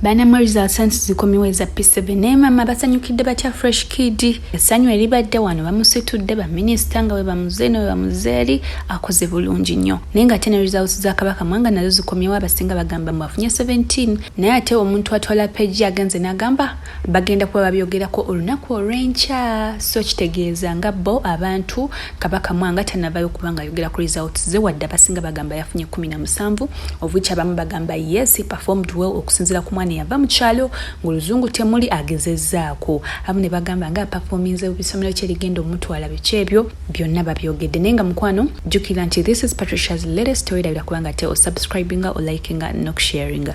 banamwe results anti zikomiwo eza p7 naye maama basanyukidde batya fresh kid essanyu eribadde wano bamusitudde baminisita nga webamuze ne webamuze eri akoze bulungi nnyo naye nga ate ne results za kabaka mwanga nazo zikomyewo abasinga bagamba mwafunye 17 naye ate omuntu atwala peji agenze n'agamba bagenda kuba babyogerako olunaku olw'enkya so kitegeeza nga bo abantu kabaka mwanga tanavayo kubanga ayogera ku results ze wadde abasinga bagamba yafunye 17 ovuki abamu bagamba yes performed well okusinzira ku mwana eyava mu kyalo ng'oluzungu temuli agezezzaako abamu ne bagamba nga apafominze bisomero kye ligenda omutwala biki ebyo byonna babyogedde naye nga mukwano jjukira nti this is patricia's latest story labira kubanga te osubscribinga olikinga nokusharinga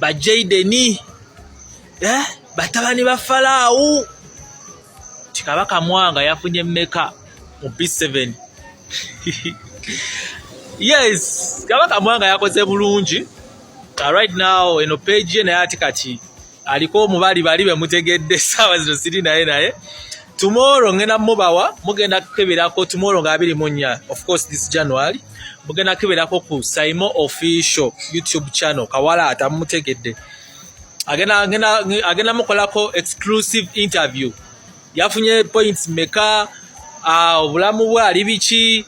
ba jaideni eh? batabani ba falaawu ti kabaka mwanga yafunye meka mu b7 yes kabaka mwanga yakoze bulungi uh, right now eno page ye naye ati kati aliko omubali bali bemutegedde saawa zino siri naye naye tomorrow ngenda mubawa mugenda kukeberako tomorrow nga abiri munya of course this january mugenda kukeberako ku saimo official youtube channel kawala atamutegedde agenda agenda agenda mukolako exclusive interview yafunye points meka ah, obulamu bwe ali biki